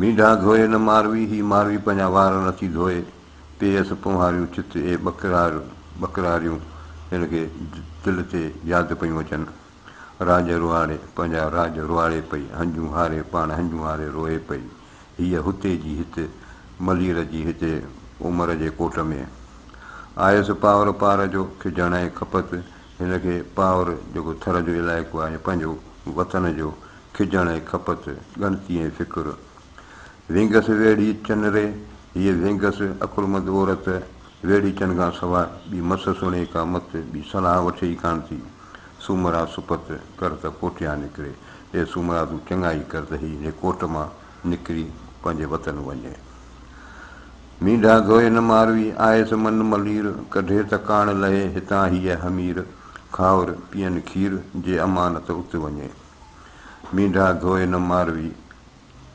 مينڍا ڌوئي نه ماروي، هي ماروي پنهنجا وار نٿي ڌوئي، پيئس پونهاريون چت اي ٻڪرار ٻڪراريون، هن کي دل تي ياد پيون اچن، راڄ رواڙي پنهنجا راڄ رواڙي پئي، هنجون هاري پاڻ هنجون هاري روئي پئي، هيء هتي جي هت، ملير جي هتي، عمر جي ڪوٽ ۾. آيس پاور پار جو کجڻ ۽ کپت، هن کي پاور جيڪو ٿر جو علائقو آهي، پنهنجو وطن جو کجڻ ۽ کپت، ڳڻتي ۽ فڪر. وينگس ويڙهي چن ري، هيء وينگس، عقلمند عورت، ويڙهي چن کان سواء ٻي مس سڻي ڪا مت، ٻي صلاح وٺي ئي ڪانه ٿي. سومرا سپت، ڪر ته ڪوٽيان نڪري. اي سومرا تون چڱائي ڪر ته هي انهي ڪوٽ مان نڪري پنهنجي وطن وڃي. مينڍا ڌوئي نه ماروي، آيس من ملير، ڪڍي ته ڪاڻ لهي هتان هيء حمير، کائور، پيئن کير، جي امانت ات وڃي. مينڍا ڌوئي نه ماروي،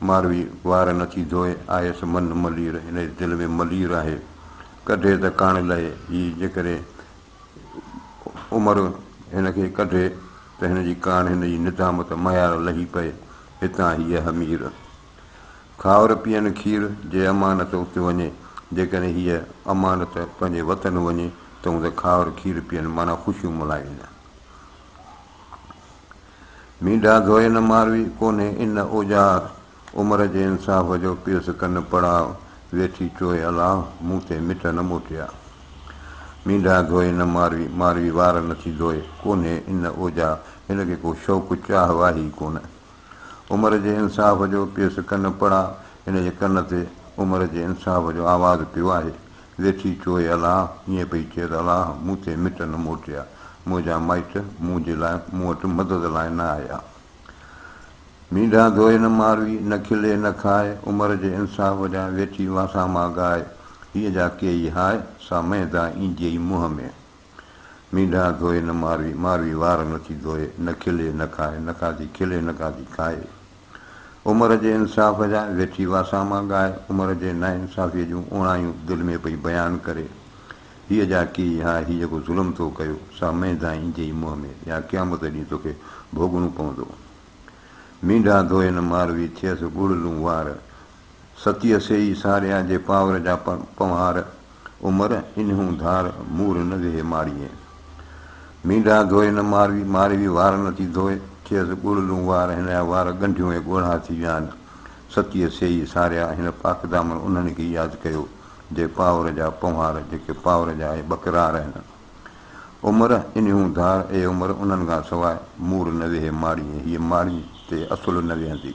ماروي وار نه ٿي ڌوئي، آهيس من ملير، هن جي دل ۾ ملير آهي، ڪڍي ته ڪاڻ لهي، هي جيڪڏهن عمر هن کي ڪڍي ته هن جي ڪاڻ، هن جي ندامت مهيار لهي پئي، هتان هيء همير. کائر پيئن کير، جي امانت ات وڃي، جيڪڏهن هيء امانت پنهنجي وطن وڃي، تون ته کائر کير پيئن، معنيٰ خوشيون ملهائين. مينڍا ڌوئي نه ماروي، ڪونهي ان اوزار. عمر جي انصاف جو پيس ڪن پڙاء، ويٺي چوئي الا، مون تي مٺ نه موٽيا. مينڍا ڌوئي نه ماروي، ماروي وار نٿي ڌوئي، ڪونهي ان اوزار. هن کي ڪو شوق چاهه واهه ئي ڪونه. عمر جي انصاف جو پيس ڪن پڙاء، هن جي ڪن تي عمر جي انصاف جو آواز پيو آهي. ويٺي چوي الله ائين پئي چئي ته الله مون تي مٽ نه موٽيا، منهنجا مائٽ منهنجي لاء مون وٽ مدد لاء نه آيا. مينڍا ڌوئي نه ماروي، نه کلي نه کائي، عمر جي انصاف جا ويٺي واسا مان ڳائي، هيء جا ڪيئي هاء، سا مئي دا اينديئي منهن ۾. مينڍا ڌوئي نه ماروي، ماروي وار نٿي ڌوئي، نه کلي نه کائي، نه کاڌي کلي نه کاڌي کائي. عمر جي انصاف جا ويٺي واساما ڳائي عمر جي ناانصافيء جون اوڻايون دل ۾ پئي بيان ڪري، هيء جا ڪي ها هي جيڪو ظلم تو ڪيو، سا مينڌائي ايندي ئي منهن ۾ يا قيامت ڏينهن توکي ڀوڳڻو پوندو. مينڍا ڌوئي نه ماروي ٿئيس ڳڙ لون وار، ستيء سيئي ساريا جي پاور جا پنوهار عمر انهون ڌار مور نه ويهي ماڙيئي مينڊا ڌوئي نه ماروي ماروي وار نه ٿي ڌوئي ٿئيس ڳڙ لون وار هن جا وار ڳنڍيون ۽ ڳوڙها ٿي ڄائن ستيء سيئي ساريا هن پاڪدامن انهن کي ياد ڪيو جي پاور جا پنوهار جيڪي پاور جا اهي ٻڪرار آهن عمر انهون ڌار اي عمر انهن کان سواء مور نه ويهي ماڙيئي هيء ماڙيء تي اصل نه ويهندي.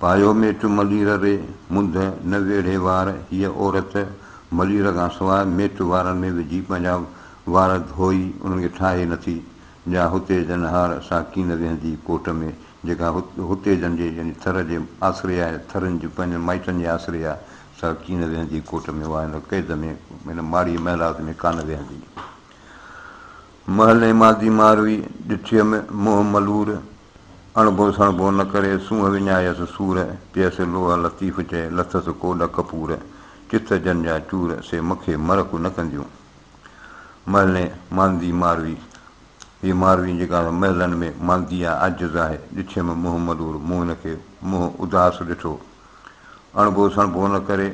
پايو ميٽ ملير ري، منڌ نه ويڙهي وار هيء عورت ملير کان سواء ميٽ وارن ۾ وجهي پنهنجا وار ڌوئي انهن کي ٺاهي نٿي، جا هتي جن هار سا ڪين ويهندي ڪوٽ ۾، جيڪا هتي جن جي يعني ٿر جي آسري آهي، ٿرين جي پنهنجن مائٽن جي آسري آهي، سا ڪين ويهندي ڪوٽ ۾، اها هن قيد ۾ هن ماڙي محلات ۾ ڪانه ويهندي. محلي مادي ماروي، ڏٺيم منهن ملور، اڻڀو سڻڀو نه ڪري سونهن وڃايس سور، پيس لوهه لطيف چئي لٿس ڪوڏ ڪپور، چٿ جن جا چور سي مکي مرڪ نه ڪنديون. مهلين ماندي ماروي، هيء ماروي جيڪا مهلن ۾ ماندي آ عاجز آهي، ڏٺيم منهن ملور، مون هن کي منهن اداس ڏٺو. اڻڀو سڻڀو نه ڪري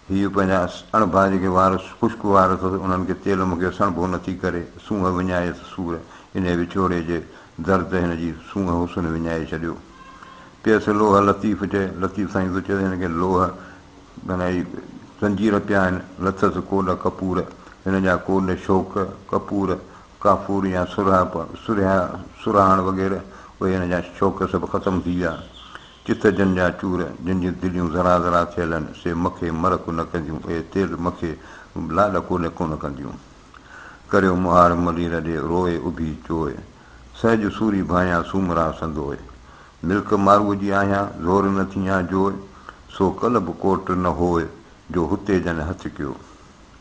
هيء پنهنجا اڻ ڀا جيڪي وار خشڪ وار اٿس، انهن کي تيل مکيو سڻڀو نه ٿي ڪري، سونهن وڃائيس سور، انهيء وڇوڙي جي درد هن جي سونهن حسن وڃائي ڇڏيو. پيس لوهه لطيف چئي، لطيف سائين ٿو چوي هن کي لوهه معنيٰ هي زنجير پيا آهن، لٿس ڪوڏ ڪپور، هن جا ڪوڏ شوق، ڪپور، ڪافور يا سرهه، سرهه، سرهاڻ وغيره، اهي هن جا شوق سڀ ختم ٿي ويا. چت جن جا چور، جن جون دليون ذرا ذرا ٿيل هن، سي مکي مرڪ نه ڪنديون، اي تيل مکي لاڏ ڪونه ڪونه ڪنديون. ڪريو مهار ملي رڏي، روء اڀي چوء، سهج سوري ڀانيان سومرا سندوء. ملڪ ماروء جي آهيان، زور نه ٿيان جوء، سو ڪل به ڪوٽ نه هوء، جو هتي جن هٿ ڪيو.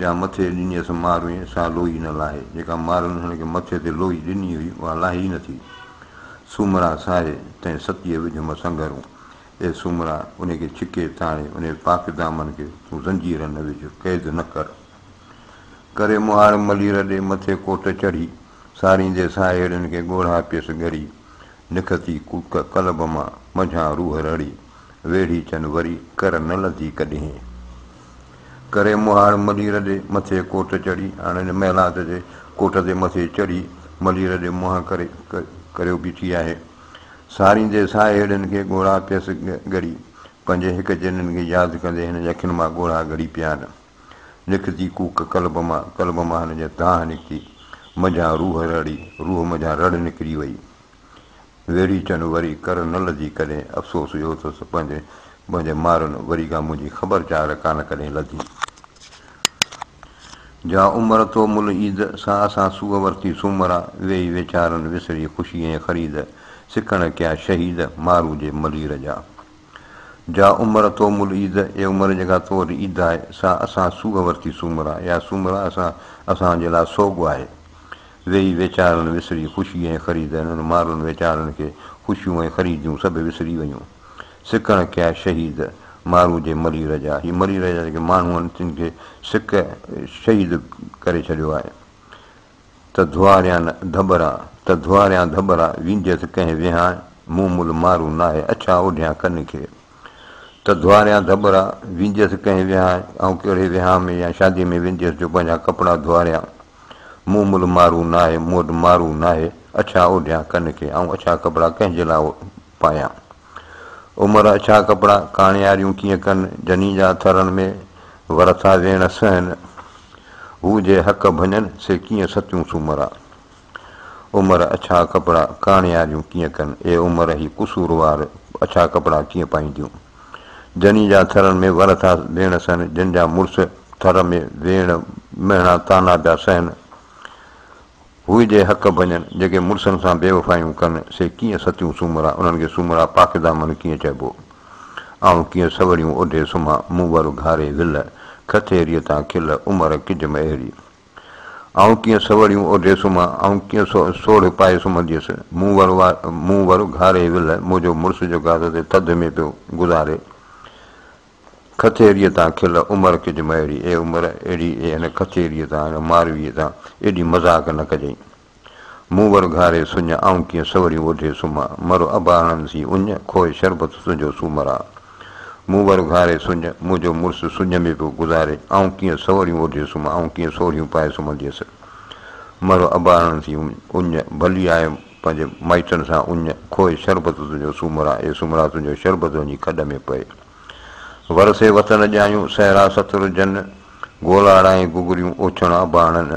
جا مٿي ڏنيس ماروين، سا لوئي نه لاهي، جيڪا ماروين هن کي مٿي تي لوئي ڏني هئي، اها لاهي ئي نٿي. سومرا ساهي، تنهن ستيء وجهه مان سنگهرون. اي سومرا! انهي کي ڇڪي تاڻي، انهي پاڪ دامن کي تون زنجير نه وجهه، قيد نه ڪر. ڪري مهاڙ ملي رڏي، مٿي ڪوٽ چڙهي، ساريندي ساهيڙين کي ڳوڙها پيس ڳري. نکتي ڪوڪ قلب مان، منجهان روح رڙي، ويڙهي چن وري، ڪر نه لڌي ڪڏهين. ڪري مهاڙ ملي رڏي مٿي ڪوٽ چڙهي هاڻ هن محلات جي ڪوٽ تي مٿي چڙهي ملي رڏي منهن ڪري ڪريو بيٺي آهي ساريندي ساهي هيڏن کي ڳوڙها پيس ڳڙي پنهنجي هڪ جنين کي ياد ڪندي هن جي اکين مان ڳوڙها ڳڙي پيا آهن لکتي ڪوڪ قلب مان قلب مان هن جي دانهن نڪتي منجهان روح رڙي روح منجهان رڙ نڪري وئي. ويڙهي چن وري ڪر نه لڌي ڪڏهن افسوس اهو اٿس پنهنجي پنهنجي مارن وري کان منهنجي خبر چار ڪانه ڪڏهن لڌي جا عمر تو مل عيد سان اسان سوء ورتي سومرا ويئي ويچارن وسري خوشي ۽ خريد سڪڻ ڪيا شهيد مارو جي ملير جا جا عمر تو مل عيد اي عمر جيڪا تو وٽ عيد آهي سا اسان سوء ورتي سومرا يا سومرا اسان اسان جي لاء سوڳ آهي ويهي ويچارن وسري خوشي ۽ خريد انهن مارن ويچارن کي خوشيون ۽ خريديون سڀ وسري ويون. سڪڻ ڪيا شهيد مارو جي مري رجا هي مري رجا جيڪي ماڻهو آهن تن کي سڪ شهيد ڪري ڇڏيو آهي ته ڌواريان ڌٻرا ته ڌواريان ڌٻرا وينديس ڪنهن ويهان مون مل مارو ناهي اڇا اوڍيان ڪن کي ته ڌوئاريان ڌٻرا، وينديس ڪنهن ويهانء، آئون ڪهڙي ويهانء ۾ يا شاديء ۾ وينديس جو پنهنجا ڪپڙا ڌوئاريان. مون ملهه مارو ناهي، مون وٽ مارو ناهي، اڇا اوڍيان ڪن کي، آئون اڇا ڪپڙا ڪنهن جي لاء پايان. عمر اڇا ڪپڙا، ڪاڻياريون ڪيئن ڪن، جنين جا ٿرن ۾ ور ٿا ويڻ سهن، هو جي حق ڀڃن، سي ڪيئن ستيون سومرا. عمر اڇا ڪپڙا ڪاڻياريون ڪيئن ڪن؟ اي عمر هي قصوروار اڇا ڪپڙا ڪيئن پائينديون؟ جني جا ٿرن ۾ ور ٿا ويڻ سهن، جن جا مڙس ٿر ۾ ويڻ مهڻا طعنا پيا سهن، هئي جي حق ڀڃن، جيڪي مڙسن سان بيوفايون ڪن، سي ڪيئن ستيون سومرا، انهن کي سومرا پاڪدامن ڪيئن چئبو؟ آئون ڪيئن سوڙيون اوڍي سمهان، مون ور اگهاري ول، کٿيريء تان کل، عمر ڪجم اهڙي. آئون ڪيئن سوڙيون اوڍي سمهان، آئون ڪيئن سوڙهه پائي سمهنديس، مون ور مون ور گهاري ولهه، منهنجو مڙس جو گاد تي ٿڌ ۾ پيو گذاري. کٿيريء تان کل عمر ڪج مئڙي، اي عمر اهڙي اي هن کٿيريء تان، هن مارويء تان ايڏي مذاق نه ڪجئين. مون ور گهاري سڃ، آئون ڪيئن سوريون اوڍي سمهان، مرو اباڻن سين اڃ، کوهي شربت تنهنجو سومران. مون ور گهاري سڃ، منهنجو مڙس سڃ ۾ پيو گذاري، آئون ڪيئن سوريون اوڍي سمهان، آئون ڪيئن سوريون پائي سمهنديس. مرو اباڻن سين اڃ، ڀلي آء پنهنجي مائٽن سان اڃ، کوهي شربت تنهنجو سومران، اي سومرا تنهنجو شربت وڃي کڏ ۾ پئي. ورسي وطن ڄايون، صحرا ستر جن، گولاڙائين گگريون اوڇڻ اباڻن.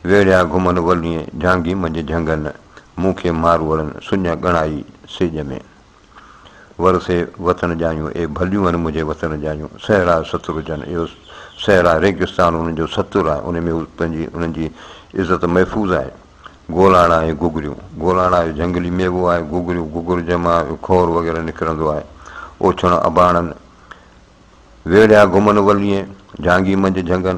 ويڙهيا گهمن ولين جهانگي منجهه جهنگن، مون کي ماروئڙن سڃ ڳڻائي سيڄ ۾. ورثي وطن جايون اي ڀليون هن منهنجي وطن جايون، صحرا ستر جن اهو صحرا ريگستان انهن جو ستر آهي، انهن ۾ هو پنهنجي انهن جي عزت محفوظ آهي. گولاڻا ۽ گگريون، گولاڻا اهو جهنگلي ميوو آهي، گگريون گگر جنهن مان اهو کور وغيره نڪرندو آهي. اوڇڻ اباڻن. ويڙهيا گهمن ولين جهانگي منجهه جهنگن،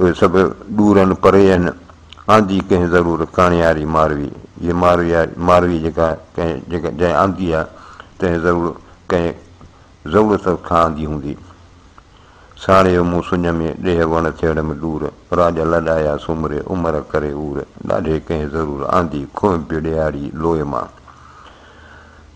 اهي سڀ ڏور ان پري ان آندي ڪنهن ضرور ڪاڻياري ماروي جي ماروي ماروي جيڪا ڪنهن جيڪا جنهن آندي آ تنهن ضرور ڪنهن ضرورت کان آندي هوندي ساڻيو مون سڃ ۾ ڏيهه وڻ ٿيڙ م ڏور راڄ لڏايا سومري عمر ڪري عور ڏاڍي ڪنهن ضرور آندي کوهه بڙياڙي لوء مان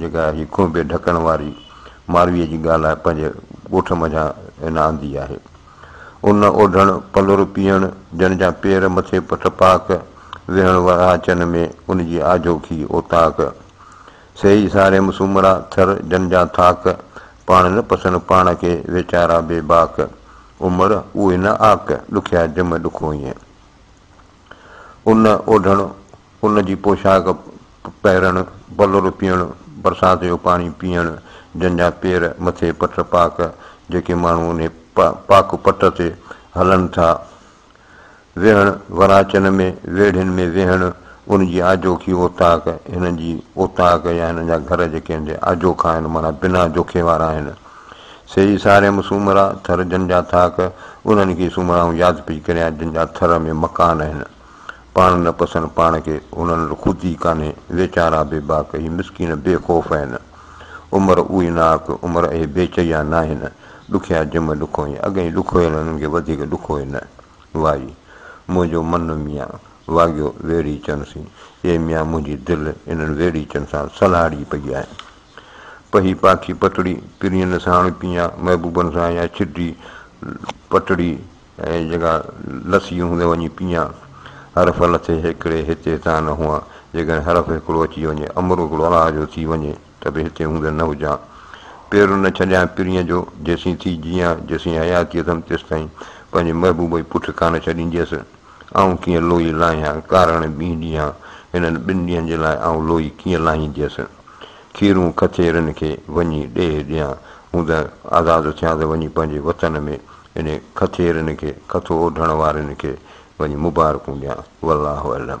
جيڪا هي کونڀي ڍڪڻ واري مارويء جي ڳالهه پنهنجي ڳوٺ منجهان هن آندي آهي. ان اوڍڻ، پلور پيئڻ، جن جا پير مٿي پٺ پاڪ، ويهڻ ورهاچن ۾ ان جي آجو کي اوطاق، سهي ساريم سومرا ٿر جن جا ٿاڪ، پاڻ نه پسن پاڻ کي ويچارا بي باڪ، عمر اهي نه آڪ، ڏکيا جم ڏکوئين. ان اوڍڻ، ان جي پوشاڪ پهرڻ، بلور پيئڻ، برسات جو پاڻي پيئڻ، جن جا پير، مٿي پٽ پاڪ، جيڪي ماڻهو انهي پاڪ پٽ تي هلن ٿا. ويهڻ، وراچن ۾ ويڙهين ۾ ويهڻ، ان جي آجوکي اوطاق، هنن جي اوطاق يا هنن جا گهر جيڪي هندي آجوکا آهن، معنيٰ بنا جوکي وارا آهن. سي ئي ساريم سومرا، ٿر جن جا ٿاڪ، انهن کي سومرائون ياد پئي ڪريان جن جا ٿر ۾ مڪان آهن. پاڻ نه پسن پاڻ کي، هنن وٽ خود ئي ڪانهي، ويچارا بي باڪ، هي مسڪين بي خوف آهن. عمر اهي ناڪ، عمر اهي بي چيا ناهن، ڏکيا جم ڏکوئين، اڳئين ڏکويل هنن کي وڌيڪ ڏکوئي نه. وائي! منهنجو من ميان واڳيو ويڙهيچن سين، اي ميان منهنجي دل انهن ويڙهيچن سان سلهاڙي پئي آهي. پهي پاکي پتڙي، پرين ساڻ پيئان، محبوبن سان يا ڇڊي پٽڙي ۽ جيڪا لسي هوندي وڃي پيئان. حرف لٿي هيڪڙي هتي هتان نه هئان، جيڪڏهن حرف هڪڙو اچي وڃي، امر هڪڙو الله جو ٿي وڃي ته به هتي هوندي نه هجان. پير نه ڇڏيان پرين جو، جيسين ٿي جيئان، جيسين حياتي اٿم تيستائين پنهنجي محبوب جي پٺ ڪانه ڇڏينديس. آئون ڪيئن لوئي لاهيان، ڪارڻ ٻينهن ڏينهان، هنن ٻن ڏينهن جي لاء آئون لوئي ڪيئن لاهينديس. کيرون کچيرن کي وڃي ڏيهه ڏيان، مون ته آزاد ٿيان ته وڃي پنهنجي وطن ۾ انهي کچيرن کي، کٿو اوڍڻ وارين کي وڃي مبارڪون ڏيان. والله اعلم.